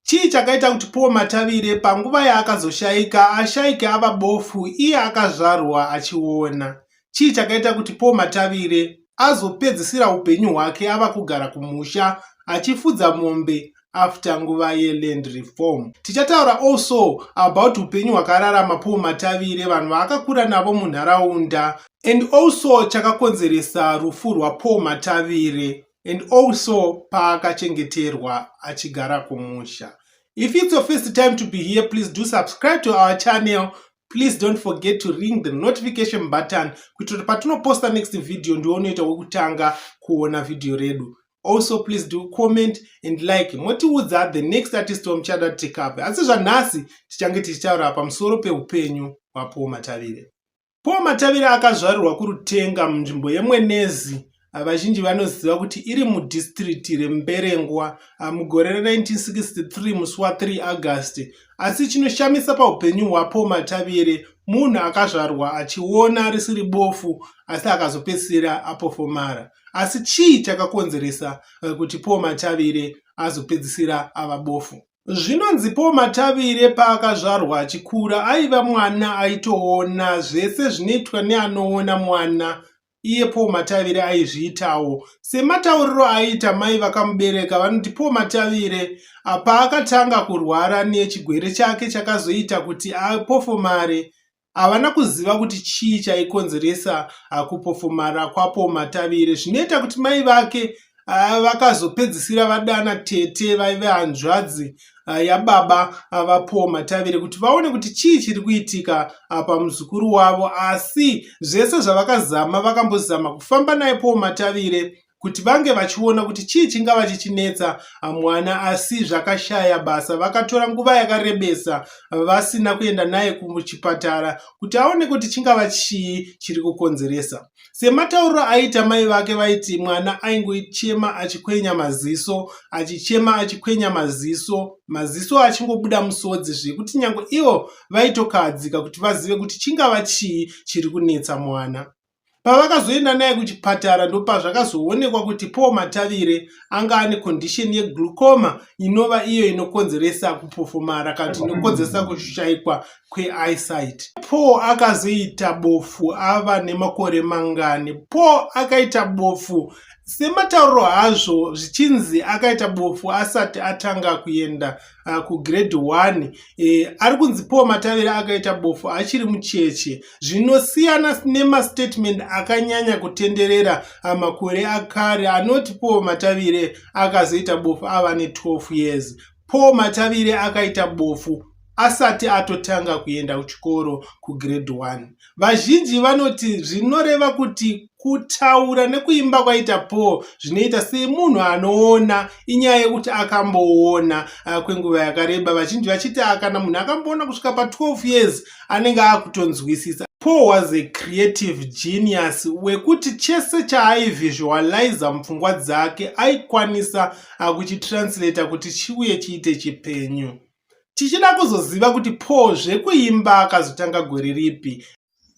Chii chakaita kuti Paul Matavire panguva yaakazoshaika ashaike ava bofu iye akazvarwa achiona? Chii chakaita kuti Paul Matavire azopedzisira upenyu hwake ava kugara kumusha achifudza mombe after nguva yeland reform? Tichataura also about upenyu hwakararama Paul Matavire, vanhu vaakakura navo munharaunda and also chakakonzeresa rufu rwaPaul Matavire. and also paakachengeterwa achigara kumusha if it's your first time to be here please do subscribe to our channel please don't forget to ring the notification button kuitira kuti patinoposta next video ndiwo unoita wekutanga kuona video redu also please do comment and like motiudza the next artist wamuchada tikave asi zvanhasi tichange tichitaura pamusoro peupenyu hwapuwo matavire Paul Matavira akazvarirwa kuRutenga munzvimbo yeMwenezi vazhinji vanoziva kuti iri mudhistiriti reMberengwa mugore ra1963 musi wa3 August asi chinoshamisa paupenyu hwaPaul Matavire munhu akazvarwa achiona risiri bofu asi akazopedzisira apofomara asi chii chakakonzeresa eh, kuti Paul Matavire azopedzisira ava bofu Zvinonzi Paul Matavire paakazvarwa achikura aiva mwana aitoona zvese zvinoitwa neanoona mwana iye Paul Matavire aizviitawo. Sematauriro aiita mai vakamubereka vanoti Paul Matavire paakatanga kurwara nechigwere chake chakazoita kuti apofomare havana kuziva kuti chii chaikonzeresa ah, kupofomara kwapo matavire zvinoita kuti mai vake ah, vakazopedzisira vadana tete vaive hanzvadzi ah, yababa vapowo matavire kuti vaone kuti chii chiri kuitika pamuzukuru wavo asi zvese zvavakazama vakambozama kufamba naye powo matavire kuti vange vachiona kuti chii chingava chichinetsa ah, mwana asi zvakashaya basa vakatora nguva yakarebesa vasina kuenda naye kuchipatara kuti aone kuti chingava chii chiri kukonzeresa sematauriro aiita mai vake vaiti mwana aingochema achikwenya maziso achichema achikwenya maziso maziso achingobuda musodzi zvekuti nyange ivo vaitokahadzika kuti vazive kuti chingava chii chiri kunetsa mwana pavakazoenda naye kuchipatara ndopazvakazoonekwa kuti paul matavire anga ane condition yeglucoma inova iyo inokonzeresa kupofomara kana kuti inokonzeresa kushaikwa kweeyesight paul akazoita bofu ava nemakore mangani paul akaita bofu sematauro hazvo zvichinzi akaita bofu asati atanga kuenda uh, kugrade 1 eh, ari kunzi paul matavira akaita bofu achiri mucheche zvinosiyana nemastatement akanyanya kutenderera uh, makore akare anoti paul matavire akazoita bofu ava ne12 years paul matavire akaita bofu asati atotanga kuenda kuchikoro kugrade 1 Vazhinji vanoti zvinoreva kuti kutaura nekuimba kwaita Paul zvinoita semunhu anoona inyaya yekuti akamboona ah, kwenguva yakareba vazhinji vachiti ah, kana munhu akamboona kusvika pa12 years anenge akutonzwisisa Paul was a creative genius wekuti chese chaaivisualiza mupfungwa dzake aikwanisa akuchitranslata kuti chiuye chiite chipenyu. tichida kuzoziva kuti Paul zvekuimba akazotanga gore ripi.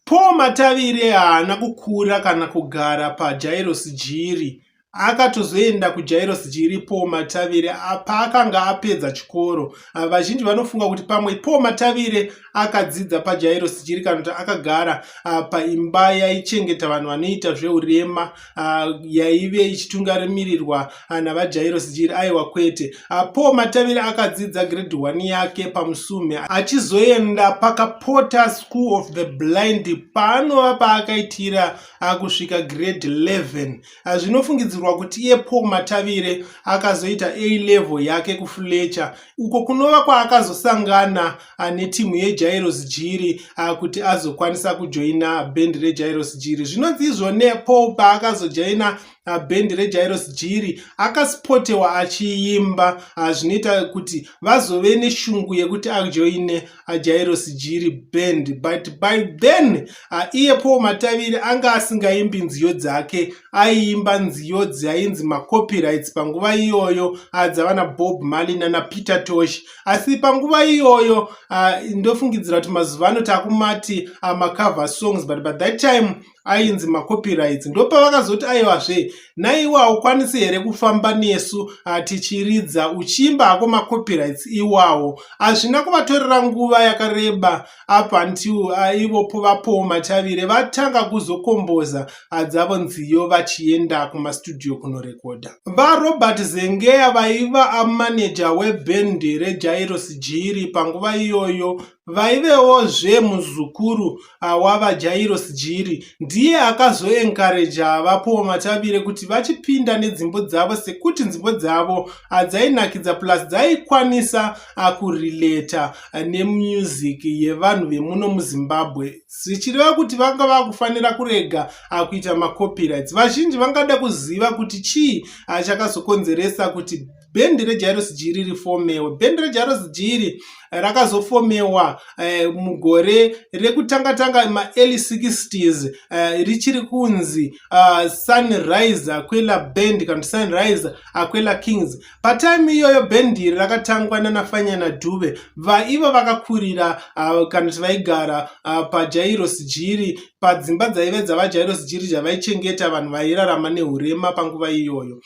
Paul Matavire haana kukura kana kugara paJairos Jiri. Akatozoenda kuJairos Jiri Paul Matavire paakanga apedza chikoro. Vazhinji vanofunga kuti pamwe Paul Matavire akadzidza pajairosi chirikanota akagara uh, paimba yaichengeta vanhu vanoita zveurema uh, yaive ichitungamirirwa uh, navajairosi jiri aiwa kwete uh, paul matavire akadzidza grade 1 yake pamusume achizoenda pakapota school of the blind paanova paakaitira uh, kusvika grade 11 Ah, zvinofungidzirwa kuti iye paul matavire akazoita a level yake kufletcher uko kunova kwaakazosangana ah, netimu yejairos jiri ah, kuti azokwanisa kujoina bhendi rejairos jiri zvinonzi izvone paul paakazojaina bhendi rejairos jiri akaspotewa achiimba zvinoita kuti vazove neshungu yekuti ajoine ajairosi jiri band but by then uh, iye paul mataviri anga asingaimbi nziyo dzake aiimba nziyo dzainzi macopyrights panguva iyoyo uh, dzavana bob mali nana peter tosh asi panguva iyoyo uh, ndofungidzira kuti mazuva ano takumati uh, macover songs but by that time ainzi macopyrights ndopavakazoti aiwazve naiwe haukwanisi here kufamba nesu hatichiridza uchiimba hako macopyrights iwawo hazvina kuvatorera nguva yakareba up until aivopo vapowo matavire vatanga kuzokomboza hadzavo nziyo vachienda kumastudio kunorekodha varobert zengeya vaiva amaneja webhendi rejairos jiri panguva iyoyo vaivewo zve muzukuru awava Jairos Jiri ndiye akazoenkareja avapowo matavire kuti vachipinda nedzimbo dzavo sekuti nzimbo dzavo adzainakidza plus dzaikwanisa akurileta nemusic yevanhu vemuno muzimbabwe zvichireva kuti vanga vakufanira kurega akuita macopyrights vazhinji vangada kuziva kuti chii achakazokonzeresa kuti bhendi rejairos g riri fomewe bhendi rejairos g iri rakazofomewa eh, mugore rekutanga tanga maearly 60s eh, richiri kunzi uh, sunrise aquela band kana sunrise aquela kings patime iyoyo bhendi iri rakatangwa nanafanyana dhuve vaiva vakakurira uh, kana kuti vaigara uh, pajairos g iri padzimba dzaive dzavajairos g iri dzavaichengeta vanhu vairarama neurema panguva iyoyo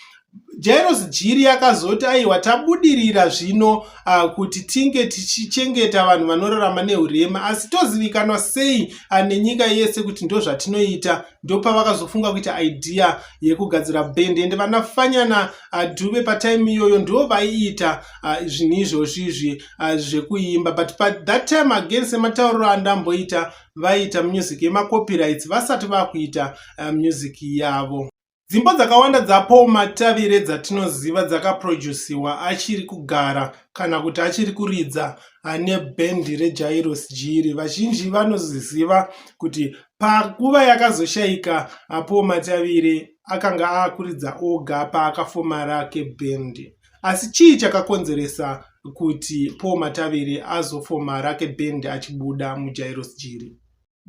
Jairos Jiri akazoti aiwa tabudirira zvino uh, kuti tinge tichichengeta vanhu vanorarama nehurema asi tozivikanwa sei uh, nenyika yese kuti ndozvatinoita ndopavakazofunga kuita idea yekugadzira band ende vana fanyana uh, dube patime iyoyo ndo vaiita uh, zvinhu izvozvi izvi uh, zvekuimba but pa that time again sematauriro andamboita vaiita music yemacopyrights vasati vakuita uh, music yavo Dzimbo dzakawanda dzaPaul Matavire dzatinoziva dzakaprojusiwa achiri kugara kana kuti achiri kuridza ane bhendi reJairos Jiri. Vazhinji vanoziziva kuti panguva yakazoshaika apo Matavire akanga akuridza oga paakafoma rake bhendi. Asi chii chakakonzeresa kuti Paul Matavire azofoma rake bhendi achibuda muJairos Jiri?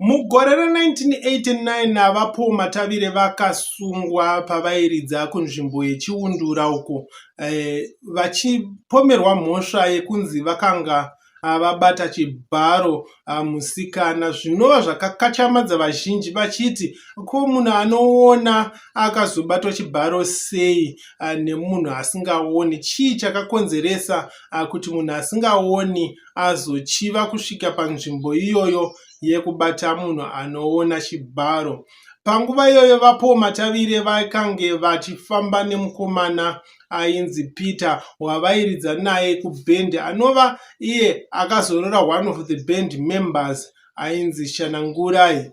Mugore ra1989 naVaPaul Matavire vakasungwa pavairidza kunzvimbo yeChiundura uko eh, vachipomerwa mhosva yekunzi vakanga ah, vabata chibharo ah, musikana zvinova zvakakachamadza vazhinji vachiti ko munhu anoona akazobatwa chibharo sei ah, nemunhu asingaoni chii chakakonzeresa ah, kuti munhu asingaoni azochiva kusvika panzvimbo iyoyo yekubata munhu anoona chibharo. Panguva iyoyo vapo matavire vakange vachifamba nemukomana ainzi Peter wavairidza naye kuband anova iye akazorora one of the band members ainzi Shanangurai.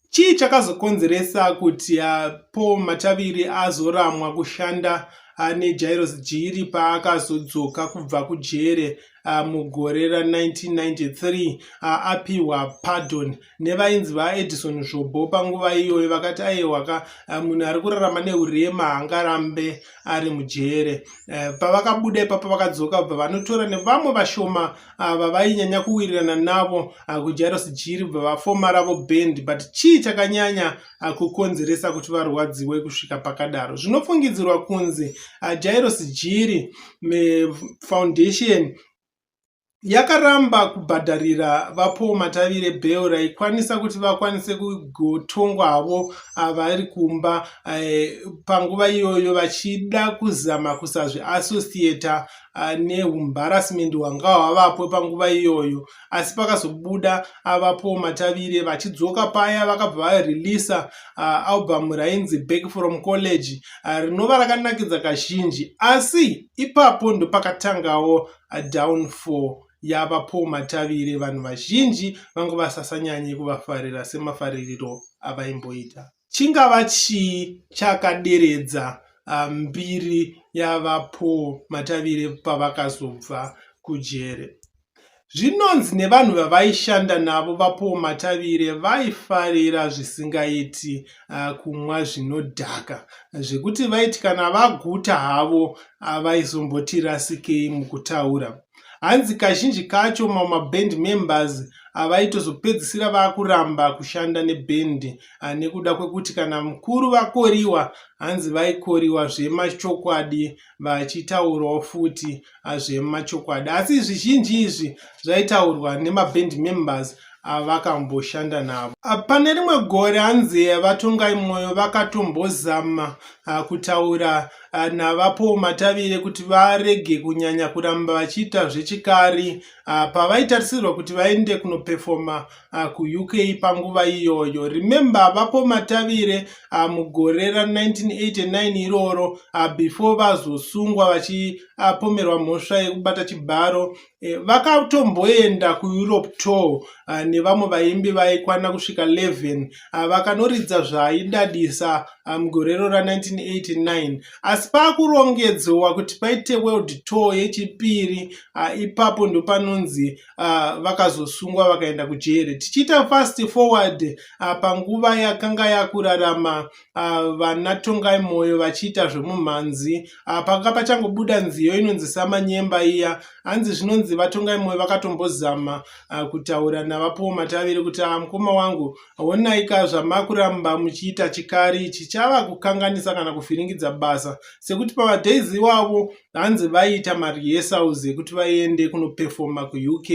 Chii chakazokonzeresa kuti ah, Paul Mataviri azoramwa kushanda ah, neJairos Jiri paakazodzoka kubva kujere ah, mugore ra1993 apiwa pardon nevainzi vaEdison Zvobo panguva iyoyo vakati aiwaka munhu ari kurarama neurema hangarambe ari mujere eh, pavakabuda ipapo vakadzoka bva vanotora nevamwe vashoma ah, vavainyanya kuwirirana navo ah, kujairus jiri bva vafoma ravo band but chii chakanyanya ah, kukonzeresa kuti varwadziwe kusvika pakadaro zvinofungidzirwa kunzi jairus jiri foundation yakaramba kubhadharira vapaul matavire bheu raikwanisa kuti vakwanise kugotongwa havo ah, vari kumba eh, panguva iyoyo vachida kuzama kusazviassociata ah, neumbarasment hwanga hwavapo panguva iyoyo asi pakazobuda avapo ah, matavire vachidzoka paya vakabva vareleasa ah, album rainzi back from college rinova rakanakidza kazhinji asi ipapo ndopakatangawo downfall yava po matavire vanhu vazhinji vanga vasasanyanye kuvafarira semafaririro avaimboita chingava chii chakaderedza ah, mbiri yavaPaul Matavire pavakazobva kujere. Zvinonzi nevanhu vavaishanda navo vaPaul Matavire vaifarira zvisingaiti ah, kumwa zvinodhaka zvekuti vaiti kana vaguta havo ah, vaizomboti rasikei mukutaura. Hanzi kazhinji kacho mamaband members avaitozopedzisira vakuramba kushanda nebhendi ah, nekuda kwekuti kana mukuru vakoriwa hanzi vaikoriwa zvemachokwadi vachitaurawo futi ah, zvemachokwadi asi zvizhinji izvi zvaitaurwa nemaband members avakamboshanda navo ah, pane rimwe gore hanzi vatongai mwoyo vakatombozama ah, kutaura ah, navapo matavire kuti varege kunyanya kuramba vachiita zvechikari pavaitarisirwa kuti vaende kunopefoma Ah, kuuk panguva iyoyo remember vapo matavire ah, mugore ra1989 iroro ah, before vazosungwa vachipomerwa mhosva yekubata chibharo eh, vakatomboenda kueurope tour nevamwe vaimbi vaikwana kusvika 11 vakanoridza zvaidadisa mugorero ra1989 asi paakurongedzowa kuti paite world tour yechipiri ipapo ndopanonzi uh, vakazosungwa vakaenda kujeri tichiita fast forward uh, panguva yakanga yakurarama uh, vana tongai moyo vachiita zvemumhanzi uh, panga pachangobuda nziyo inonzi samanyemba iya hanzi zvinonzi vatongai moyo vakatombozama uh, kutaura navapuwo mataviri kuti uh, mukoma wangu onaika zvamakuramba muchiita chikari chichava kukanganisa kana kuvhiringidza basa sekuti pamadays iwavo hanzi vaiita marehearsals ekuti vaiende kunopefoma kuuk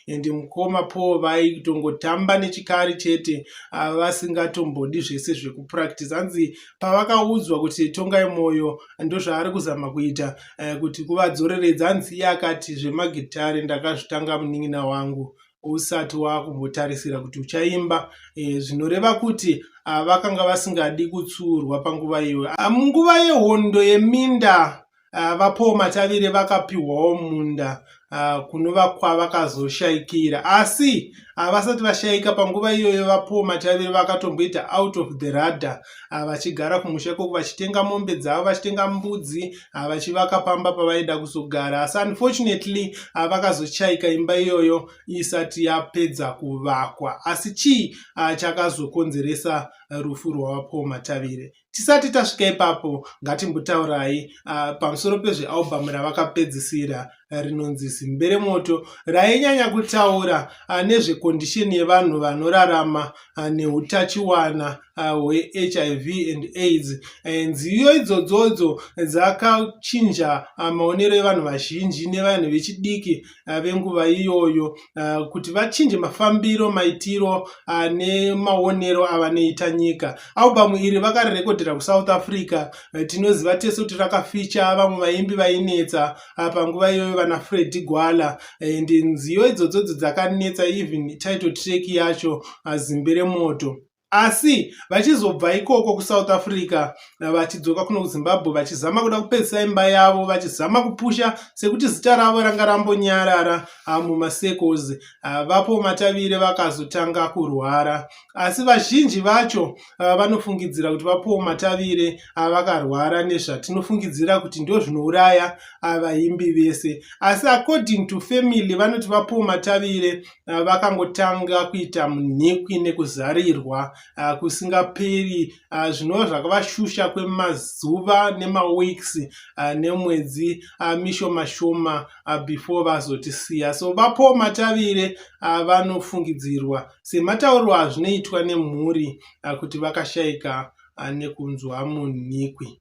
and mukoma paul vaitongotamba nechikari chete ah, vasingatombodi zvese zvekupractice hanzi pavakaudzwa kuti tongai mwoyo ndozvaari kuzama kuita eh, kuti kuvadzoreredza hanzi iye akati zvemagitare ndakazvitanga munin'ina wangu usati wakumbotarisira kuti uchaimba e, zvinoreva kuti a, ah, vakanga vasingadi kutsuurwa panguva iyoyo ah, munguva yehondo yeminda Ah, vapawo matavire vakapiwawo munda ah, kunova kwavakazoshaikira asi ah, vasati vashaika panguva iyoyo vapawo matavire vakatomboita out of the radar ah, vachigara kumusha ikoko vachitenga mombe dzavo vachitenga mbudzi ah, vachivaka pamba pavaida kuzogara asi unfortunately ah, vakazochaika imba iyoyo isati yapedza kuvakwa asi chii chakazokonzeresa rufu rwavapaul matavire tisati tasvika ipapo ngatimbotaurai pamusoro pezvealbhamu ravakapedzisira rinonzi Zimberemoto rainyanya kutaura ah, nezvekondisheni yevanhu vanorarama ah, neutachiwana ah, hweHIV and AIDS. Eh, nziyo idzodzodzo dzakachinja maonero evanhu vazhinji nevanhu vechidiki venguva iyoyo kuti vachinje mafambiro, maitiro nemaonero avanoita nyika. Albhamu iri vakarirekodhera kuSouth Africa. Eh, tinoziva tese kuti rakaficha vamwe vaimbi vainetsa. ah, panguva iyoyo vana fredi gwala and eh, nziyo idzodzodzo dzakanetsa even title track yacho ah, zimbe remoto asi vachizobva ikoko kusouth africa eh, vachidzoka kuno kuzimbabwe vachizama kuda kupedzisa imba yavo vachizama kupusha sekuti zita ravo ranga rambonyarara ah, mumasecos ah, vapo matavire vakazotanga kurwara asi vazhinji vacho ah, vanofungidzira kuti vapowo matavire avakarwara ah, nezvatinofungidzira kuti ndozvinouraya ah, vaimbi vese asi according to family vanoti vapowo matavire vakangotanga kuita munhikwi nekuzarirwa kusingaperi zvinova zvakavashusha kwemazuva nemaweeks nemwedzi mishoma shoma before vazotisiya so vapowo matavire vanofungidzirwa sematauriro azvinoitwa nemhuri kuti vakashaika nekunzwa munhikwi.